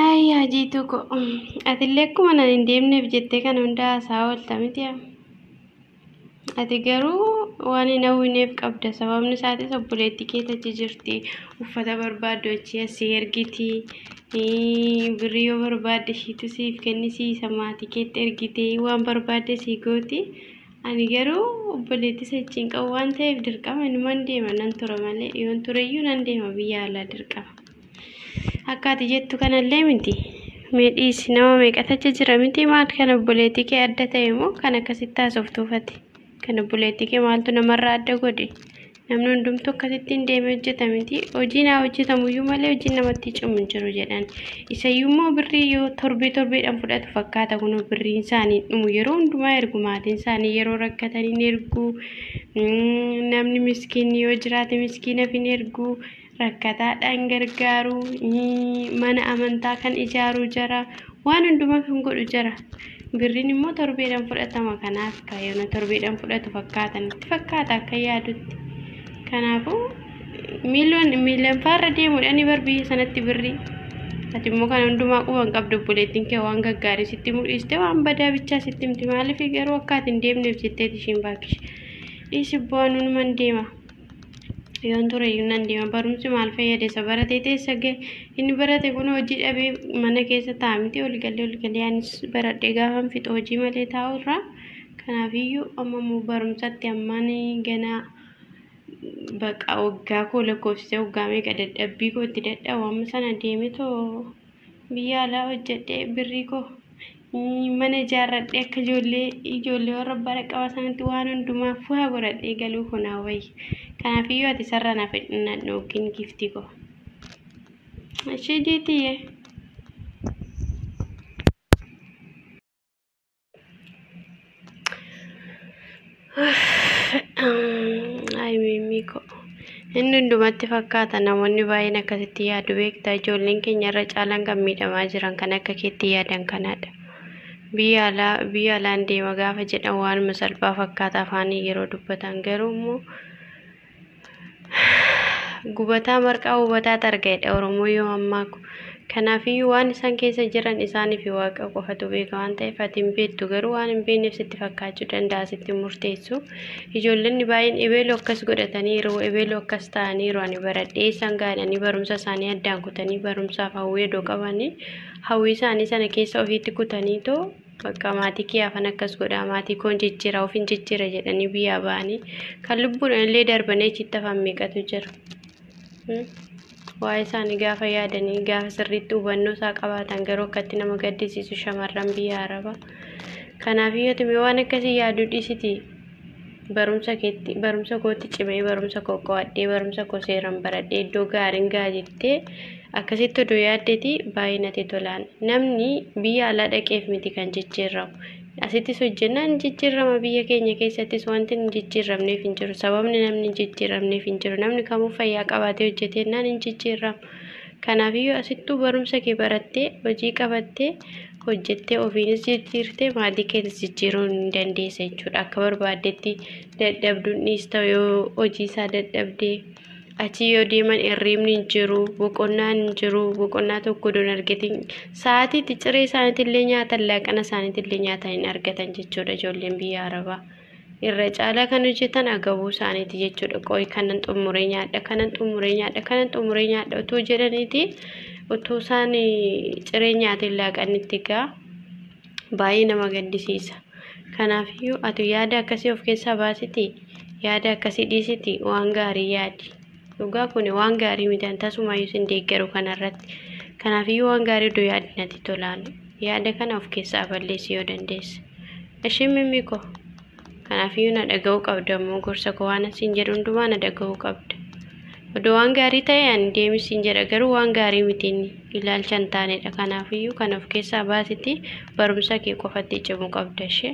Ayyaa jiituu ko atillee akkuma nan hin deemneef jettee kan hundaa haasaa oolta miti yaa. Ati garuu waan hin hawwineef qabda sababni isaatis obboleettii kee tachi jirti uffata barbaaddu achi asii ergiti Birrii yoo barbaadde ishiitu siif kennisiisa maatii keetti ergitee waan barbaadde sii gooti. Ani garuu obboleetti sechiin qabu waan ta'eef dirqama inuman deema nan tura malee yoon tureyyuu nan deema biyya alaa dirqama. Akka ati jettu kanallee miti. Mee dhiisi nama meeqatu achi jira miti maal kan obboleetti kee adda ta'e moo kan akkasitti haasoftuufati. Kan obboleettii kee maaltu namarraa adda godhe? Namni hundumtuu akkasitti hin deeme hojjeta miti. Hojiin haa hojjetamuyyuu malee hojiin namatti cimu hin jiru jedhan. Isayyuu immoo birrii yoo torbee torbeedhaan fudhatu fakkaata kun birriin isaanii hin dhumu. Yeroo hundumaa ergu maatiin isaanii yeroo rakkatan hin ergu. Namni miskiinni yoo jiraate miskiinaaf hin ergu. rakkataadhaan gargaaru, mana amantaa kan ijaaru jara, waan hundumaa kan godhu jara. Birriin immoo torbeedhaan fudhatama kanaaf kaayyoona torbeedhaan fudhatu fakkaatan itti fakkaata akka yaadutti. Kanaafuu miiliyoon miiliyoon faarra deemuudhaan bar biyya sanatti birrii. Ati immoo kana hundumaa quba hin qabdu obboleettiin kee waan gaggaarii sitti mul'iste waan badaa bichaa sitti himti maaliif garuu akka ati hin deemneef jetteeti ishiin baakkish. Dhiisi bu'aa nuun man deema. yoon ture iyyuu nan deema barumsi maal fayyade isa baratee teessa ga'e inni barate kun hojii dhabee mana keessa ta'a miti ol galee ol galee anis baradhee gaafan fixa hojii malee taa'u irraa kanaaf iyyuu amma immoo barumsatti ammaan ganaa baqa waggaa koo lakkoofsisee waggaa meeqa dadhabbii koo itti dadhabu amma sana deemetoo biyya alaa hojjedhee birrii koo Mana ijaarradhee akka ijoollee ijoollee warra abbaa dhaqqabaa sanatti waan hundumaa fuhaa godhadhee galuu koo naa wayya. Kanaafiyyuu ati sarara naaf hidhannadhu yookiin giiftii koo. Ishee jeetiyyee. Ay mimmii koo. Inni hundumatti fakkaata namoonni baay'een akkasitti yaadu beektaa ijoolleen keenya irra caalaan kan miidhamaa jiran kan akka keetti yaadan kanaadha. Biyya alaa biyya alaan deema gaafa jedhan waanuma salphaa fakkaata afaanii yeroo dubbatan garuu immoo Gubataa marqaa hubataat arga jedha Oromoo yoo ammaa kun. Kanaafiyyuu waan isaan keessa jiran isaanii fi waaqa qofatu beeka waan ta'eef ati hin beektu garuu waan hin beekneef sitti fakkaachuu danda'a sitti hin murteessu. Ijoollonni baay'een ebeeloo akkas godhataniiru ebeeloo akkas ta'aniiru ani baradhee isaan gaadhanii barumsa isaanii addaan kutanii barumsaaf hawwii odoo qabanii hawwii isaanii sana keessa ofiitti kutanii too Bakka maatii kee hafan akkas godhaa maatii koon jijjiira ofin jijjiira jedhanii biyyaa ba'anii kan lubbuudhaan illee darbanii achitti hafan meeqatu jira. Hmm? Waa'ee isaanii gaafa yaadanii gaafa sirriitti hubannoo isaa qabaatan garuu akkatti nama gaddisiisu shamarran biyya araba. Kanaaf yoo waan akkasii yaaduu dhiisiti Barumsa keetti barumsa kootti cimee barumsa koo qo'adhee barumsa koo seeran baradhee iddoo gaariin ga'a jettee akkasitti odoo yaaddeti baay'ee natti tolaan namni biyya alaa dhaqeef miti kan jijjiirramu asittis hojjennaan ni jijjiirrama biyya keenya keessattis wanti hin jijjiirramneef hin jiru sababni namni hin jijjiirramneef hin jiru namni kamuu fayyaa qabaatee hojjeteennaan hin jijjiirramu kanaafiyyuu asittuu barumsa kee barattee hojii qabattee hojjettee ofiinis jijjiirtee maatii keetis jijjiiruu ni dandeessa jechuudha. Akka barbaaddetti dadhabduun dhiista yoo hojii isaa dadhabdee achi yoo deeman hirriibni hin jiru, boqonnaan hin jiru, boqonnaa tokko don argatin sa'aatiitti ciree isaaniitillee nyaatan laaqana isaaniitillee nyaatan hin argatan jechuudha ijoolleen biyya Arabaa. irra caalaa kan hojjetan agabuu isaaniiti jechuudha. Qoy kanan xumuree nyaadha, kanan xumuree nyaadha, kanan xumuree nyaadha utuu jedhaniiti utuu isaan ciree nyaatiin laaqanitti egaa baay'ee nama gaddisiisa. Kanaafiyyuu ati yaada akkasii of keessaa baasiti, yaada akkasii dhiisiti waan gaarii yaadi. Dhugaa kuni waan gaarii miti an tasumaayyuu isin deeggaru kanarratti. Kanaafiyyuu waan gaarii iddoo yaadni natti tolaan yaada kana of keessaa balleessi yoo dandeesse. Ishii mimmi koo kanaafiyyuu na dhaga'uu qabda immoo gorsa koo waan isin jedhu hundumaa na dhaga'uu qabda. Odoo waan gaarii ta'e ani deemi isin jedha garuu waan gaarii miti inni ilaalcha hin taanedha. Kanaafiyyuu kan of keessaa baasiti barumsa kee qofatti cimuu qabda ishee.